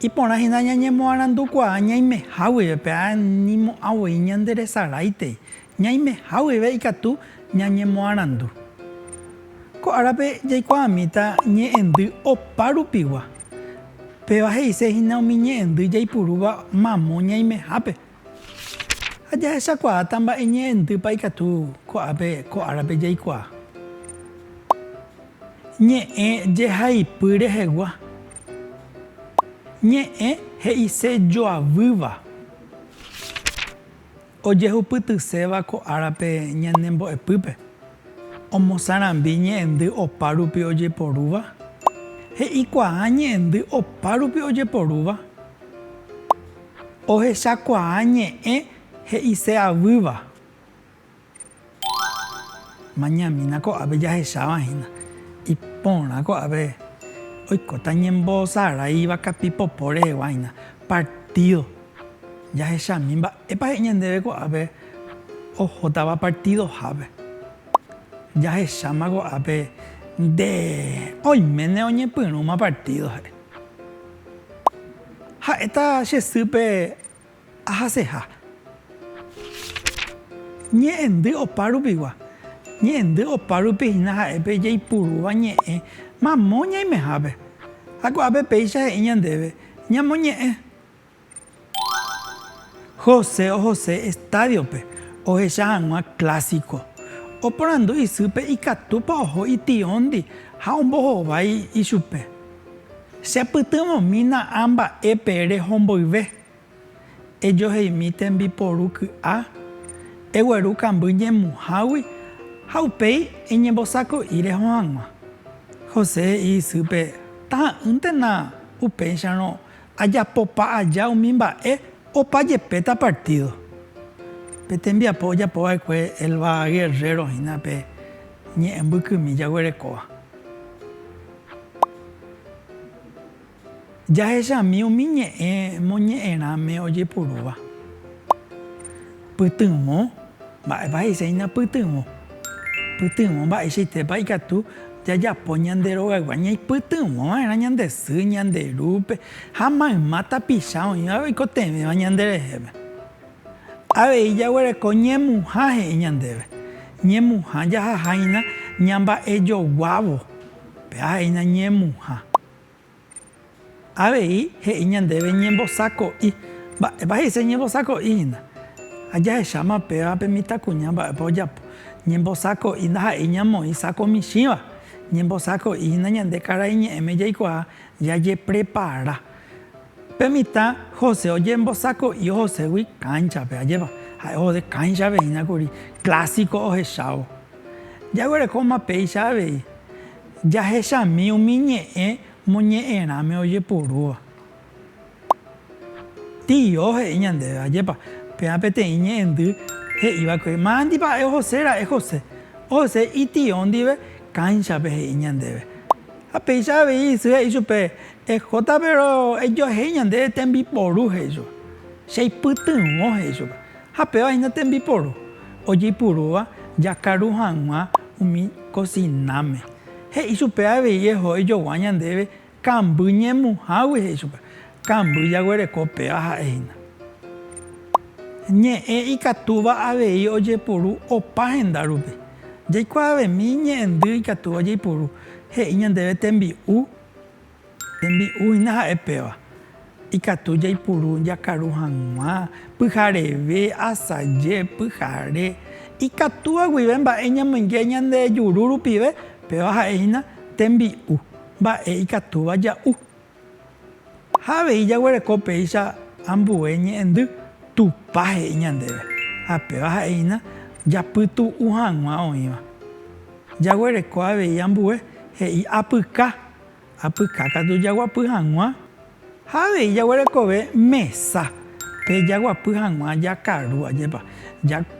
Iporã hína ñañemoarandukuaa ñaimeha guive pe ára ñimo'ã voi ñanderesaráitei. Ñaimeha guive ikatu ñañemoarandu. Ko árape jaikuaamíta ñe'ẽndy opa rupigua. Péva he'ise hína umi ñe'ẽndy jaipurúva mamo ñaimehápe. Ha jahechakuaáta mba'e ñe'ẽntýpa ikatu ko'ápe ko árape jaikuaa. Ñe'ẽ jehaipy rehegua. Ñe'ẽ he'ise joavýva. Ojehupytyséva ko árape ñane mbo'epýpe. Omosãrambi ñe'ẽndy opárupi ojeporúva. He'ikuaa ñe'ẽndy opárupi ojeporúva. Ohechakuaa ñe'ẽ he'ise avýva. Mañamína ko'ápe jahecháva hína. Iporã ko'ápe oikóta ñembosaráiva kapi popo rehegua hína. Partído. Jahechami mba'épa he'i ñandéve ko'ápe ohótava partidohápe. Jahecháma ko'ápe nde oiméne oñepyrũma partído he'i. Ha'éta che sýpe ahaseha. Ñe'ẽndy opa rupigua. Ñe'ẽndy opa rupi hína ha'épe jaipurúva ñe'ẽ mamo ñaimehápe. Ha ko'ápe péicha he'i ñandéve ñamoñe'ẽ. José ohose estádio-pe ohecha hag̃ua Clásico. Oporandu isýpe ikatúpa oho itióndi ha ombohovái ichupe. Chepytyvõmína a mba'épe rehomboyve. Ejoheimi tembiporu ky'a, egueru kamby ñemuhágui ha upéi eñembosako'i reho hag̃ua. José he'i isýpe taha'ỹntena upéicharõ Ajapopa aja umi mba'e opa jepéta partído. Pe tembiapo ojapo va'ekue Elba Guerrero hína pe ñe'ẽ mbykymi jaguerekóva. Jahechami umi ñe'ẽ moñe'ẽrãme ojepurúva. Pytyvõ? Mba'épa he'ísahína pytyvõ? Pytyvõ mba'eichaitépa ikatu jajapo ñande rogaygua ñaipytyvõ va'erã ñande sy, ñande rúpe ha mayma tapicha oĩva oikotevẽva ñande rehépe. Avei jaguereko ñemuha he'i ñandéve. Ñemuha jahaháina ñamba'ejoguávo, pe ahe'ína ñemuha. Avei he'i ñandéve ñembosako'i. Mba'épa he'ise ñembosako'i hína? Ha jahecháma péva pe mitãkuña mba'épa ojapo. Ñembosako'i ndaha'éi ñamoĩ sako michĩva. Ñembosako'i hína ñande karai ñe'ẽme jaikuaa jajeprepara. Pe mitã José ojembosako'i ohoségui kánchape, ajépa? Ha'e ohode kánchape hína kuri, klásiko ohechávo. Jaguerekóma péicha avei. Jahechami umi ñe'ẽ moñe'ẽrãme ojepurúva. Tio, he'i ñandéve, ajépa, péva peteĩ ñe'ẽndy he'iva'ekue, Mandi pa'e ohose ra'e José. Ohese itio ndive kánchape, he'i ñandéve. Ha péicha avei isy he'i chupe, Ejota péro ejoehéi ñandéve tembiporu, he'i chupe. Cheipytyvõ, he'i chupe. Ha péva hína tembiporu ojeipurúva jakaru hag̃ua umi kosináme. He'i chupe avei eho ejogua ñandéve kamby ñemuhágui, he'i chupe. Kamby jaguereko péva ha'e hína. Ñe'ẽ ikatúva avei ojepuru opa henda rupi. Jaikuaavemi ñe'ẽndy ikatúva jaipuru, he'i ñandéve tembi'u Tembi'u hína ha'e péva, ikatu jaipuru jakaru hag̃ua, pyhareve, asaje, pyhare, ikatúva guive mba'e ñamoinge ñande juru rupive, péva ha'e hína tembi'u, mba'e ikatúva ja'u. Ha avei jaguereko péicha ambue ñe'ẽndy, Tupã he'i ñandéve, ha péva ha'e hína japytu'u hag̃ua oĩva. Jaguereko avei ambue he'i apyka. Apyka katu jaguapy hag̃ua ha avei jaguerekove mesa pe jaguapy hag̃ua jakaru, ajépa,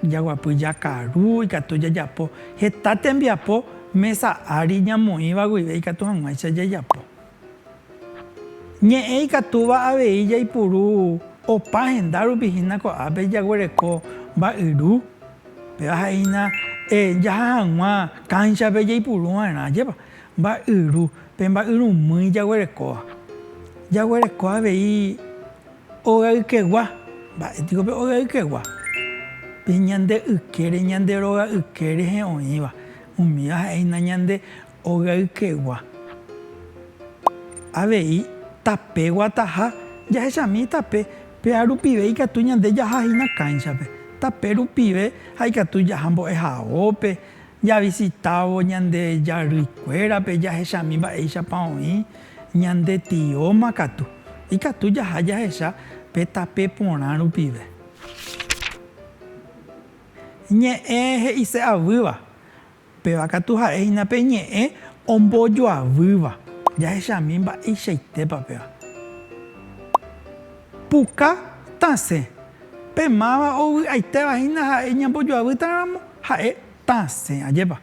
jaguapy jakaru ikatu jajapo heta tembiapo mesa ári ñamoĩva guive ikatu hag̃uáicha jajapo. Ñe'ẽ ikatúva avei jaipuru opa henda rupi hína ko'ápe jaguereko mba'yru, péva ha'e hína jaha hag̃ua kánchape jaipuru va'erã, ajépa, Mba'yru, pe mba'yrumýi jaguerekóva. Jaguereko avei óga ykegua. Mba'e piko pe óga ykegua? Pe ñande ykére, ñande róga yke rehe oĩva. Umíva ha'e hína ñande óga ykegua. Avei tape guataha, jahechami tape, péa rupive ikatu ñande jaha hína kánchape. Tape rupive ha ikatu jaha mbo'ehaópe. Javisitávo ñande jarýikuérape jahechami mba'éichapa oĩ ñande tióma katu, ikatu jaha jahecha pe tape porã rupive. Ñe'ẽ he'ise avýva. Péva katu ha'e hína pe ñe'ẽ ombojoavýva, jahechami mba'eichaitépa péva. Puka tasẽ. Pe máva ovy'aitéva hína ha'e ñambojoavýtaramo ha'e tasẽ. Ajépa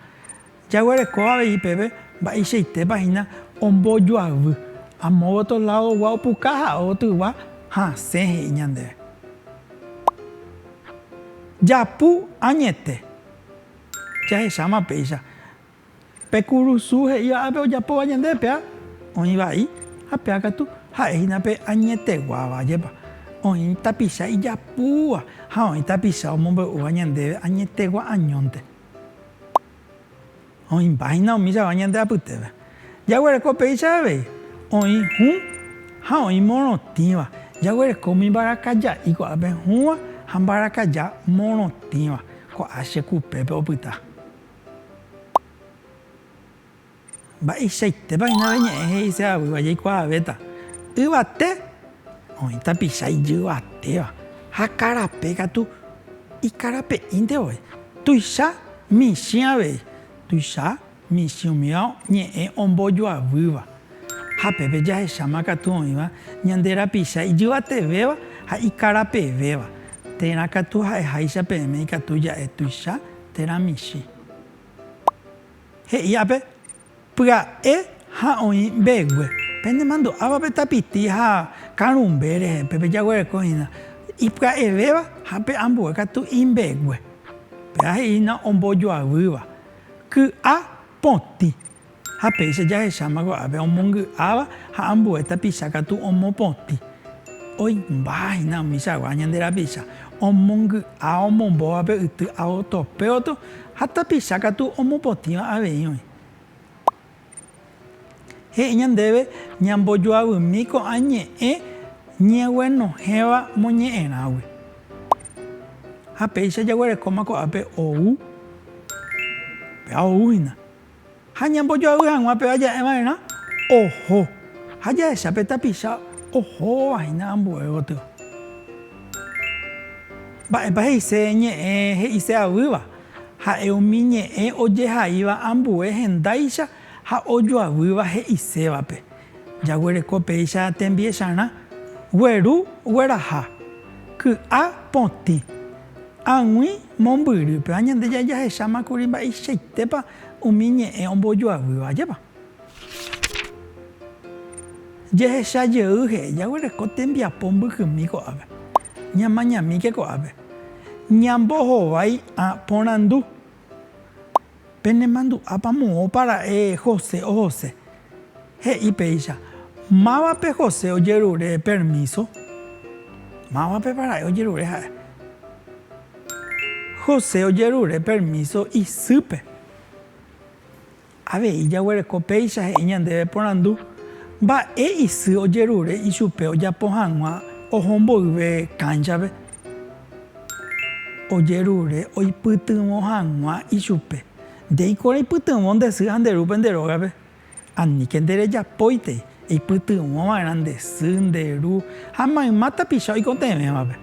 jaguereko avei peve mba'eichaitépa hína ombojoavy. Amo otro ládogua opuka ha otygua hasẽ he'i ñandéve. Japu añete jahecháma péicha. Pe kurusu he'íva ápe ojapóva ñande pea oĩ vai, ha pea katu ha'e hína pe añeteguáva. Ajépa, oĩ tapicha ijapúva ha oĩ tapicha omombe'úva ñandéve añetegua añónte. Oĩmba hína umi chagua ñande apytépe. Jaguereko péicha avei, oĩ hũ ha oĩ morotĩva. Jaguereko umi mbarakaja'i ko'ápe hũva ha mbarakaja morotĩva. Ko'ã che kupépe opyta. Mba'eichaitépa hína pe ñe'ẽ he'i che aguýva jaikuaavéta, yvate oĩ tapicha ijyvatéva ha karape katu ikarape'ínte voi. Tuicha michĩ avei, tuicha michĩ umíva ñe'ẽ ombojoavýva. Ha pépe jahecháma katu oĩva ñande rapicha ijyvatevéva ha ikarapevéva, térã katu ha'eháicha peẽme ikatu ja'e tuicha. térã michĩ. He'i ápe, Pya'e ha oĩ mbegue. Pene mandu'áva pe tapiti ha karũmbe rehe, pe pejaguereko hína ipya'evéva ha pe ambue katu imbegue. Péva he'i hína ombojoavýva, ky'a potĩ. Ha péicha jahecháma ko'ápe omongy'áva ha ambue tapicha katu omopotĩ, oĩmbáva hína umi chagua ñande rapicha, omongy'a omombóva pe yty aotopeoto ha tapicha katu omopotĩva avei oĩ. He'i ñandéve ñambojoavymi ko'ã ñe'ẽ ñeguenohẽva moñe'ẽrãgui. Ha péicha jaguerekóma ko'ápe ou, péva ou hína, Ha ñambojoavy hag̃ua pe vaja'e va'erã oho, ha jahecha pe tapicha ohóva hína ambue gotyo. Mba'épa he'ise ñe'ẽ he'ise avýva? Ha'e umi ñe'ẽ ojehaíva ambue hendáicha ha ojoavýva he'isévape. Jaguereko péicha tembiecharã gueru gueraha, ky'a potĩ, ag̃ui mombyrýpe. Ha Ñandejára jahecháma kuri mba'eichaitépa umi ñe'ẽ ombojoavýva ajépa. Jehecha jey he'i, Jaguereko tembiapo mbykymi ko'ápe. Ñamañamíke ko'ápe. Ñambohovái ã porandu. Penemandu'ápa moõpa ra'e José ohose. He'i péicha, Mávape José ojerure permíso? Mávapepa ra'e ojerure ha'e? José ojerure permíso isýpe. Avei jaguereko péicha he'i ñandéve porandu mba'e isy ojerure ichupe ojapo hag̃ua oho mboyve kánchape, ojerure oipytyvõ hag̃ua ichupe. Ndéiko reipytyvõ nde sy ha nde rúpe nde rógape, aníke nde rejapóitei, eipytyvõ va'erã nde sy, nde ru ha mayma tapicha oikotevẽvape.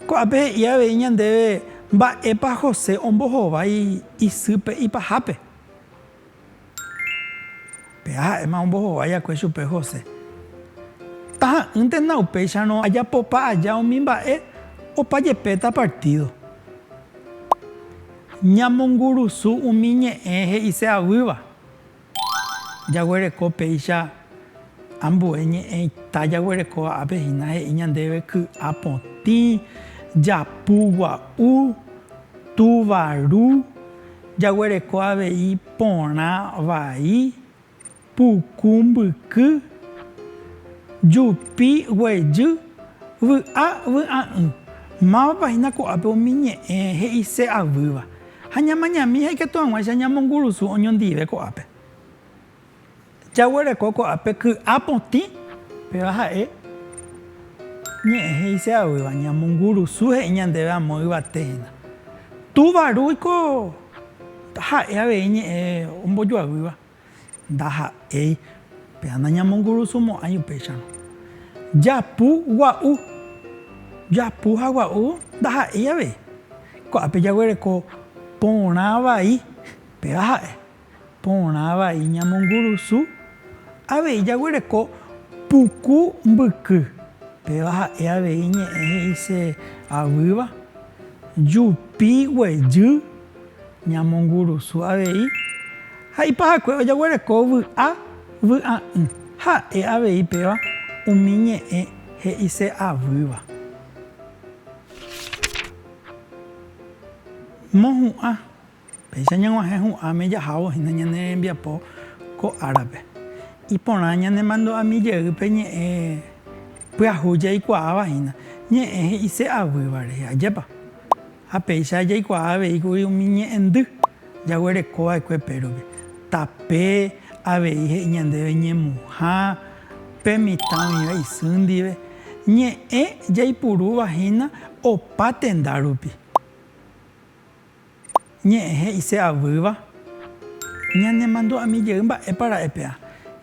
Ko'ápe he'i avei ñandéve mba'épa José ombohovái isýpe ipahápe. Péa ha'éma ombohovái akue chupe José. Taha'ỹntena upéicharõ ajapopa aja umi mba'e opa jepéta partído. Ñamongurusu umi ñe'ẽ he'ise avýva. Jaguereko péicha ambue ñe'ẽ ita jaguereko ápe hína he'i ñandéve ky'a potĩ, japu gua'u, túva ru, jaguereko avei porã vai, puku mbyky, jupi guejy, vy'a vy'a'ỹ. Mávapa hína ko'ápe umi ñe'ẽ he'ise avýva? Ha ñamañami ha ikatu hag̃uáicha ñamongurusu oñondive ko'ápe. Jaguereko ko'ápe ky'a potĩ, péva ha'e ñe'ẽ he'ise'aguýva, Ñamongurusu he'i ñandéve amo yvate hína. Túva Ru oiko ha'e avei ñe'ẽ ombojoaguýva. Ndaha'éi péva nañamongurusumo'ãi upéicharõ. Japu gua'u. Japu ha gua'u ndaha'éi avei. Ko'ápe jaguereko porã vai, péva ha'e. Porã vai ñamongurusu, avei jaguereko puku mbyky, péva ha'e avei ñe'ẽ he'ise avýva, jupi guejy. Ñamongurusu avei ha ipahakue ojaguereko vy'a vy'a'ỹ. Ha'e avei péva umi ñe'ẽ he'ise avýva. Mohu'ã. Péicha ñag̃uahẽ hu'ãme jahávo hína ñane rembiapo ko árape. Iporã ñanemandu'ami jey pe ñe'ẽ pyahu jaikuaáva hína, ñe'ẽ he'ise avýva rehe. Ajépa? Ha péicha jaikuaa avei kuri umi ñe'ẽndy jaguereko va'ekue pérope, tape avei he'i ñandéve ñemuha pe mitã oĩva isy ndive, ñe'ẽ jaipurúva hína opa tenda rupi. Ñe'ẽ he'ise avýva, Ñanemandu'ami jey mba'épa ra'e pe'a,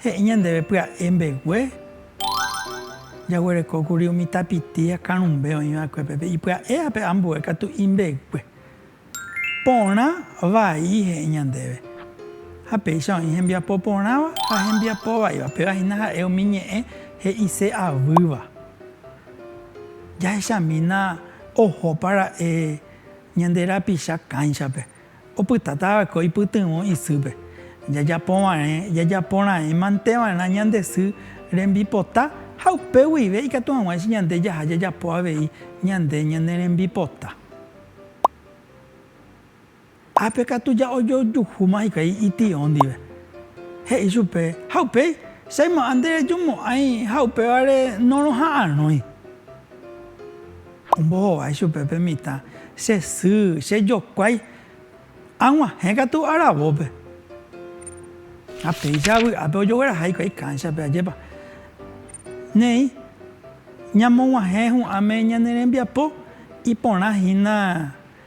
he'i ñandéve pya'e mbegue. Jaguerekókuri umi tapiti akarũmbe oĩ va'ekue pe pe ipya'e ha pe ambue katu imbegue. Porã vai he'i ñandéve. Ha péicha oĩ hembiapo porãva ha hembiapo vaiva, péva hína ha'e umi ñe'ẽ he'ise avýva. Jahechamína oho para'e ñande rapicha kánchape, Opytáta va'ekue oipytyvõ isýpe. Jajapo va'erẽ jajapo raẽ mante va'erã ñande sy rembipota ha upe guive ikatu hag̃uáicha ñande jaha jajapo avei ñande ñane rembipota. Ápe katu ja'ojojuhúma hikuái ityõ ndive. He'i chupe, Ha upéi, che aymo'ã nderejumo'ãi ha upévare noroha'arõi. Ombohovái chupe pe mitã, che sy, che jokuái, aguahẽ katu aravópe. Ha péicha avy'ápe ojogueraha hikuái kánchape, ajépa. Néi, ñamoguahẽ hu'ãme ñane rembiapo iporã hína.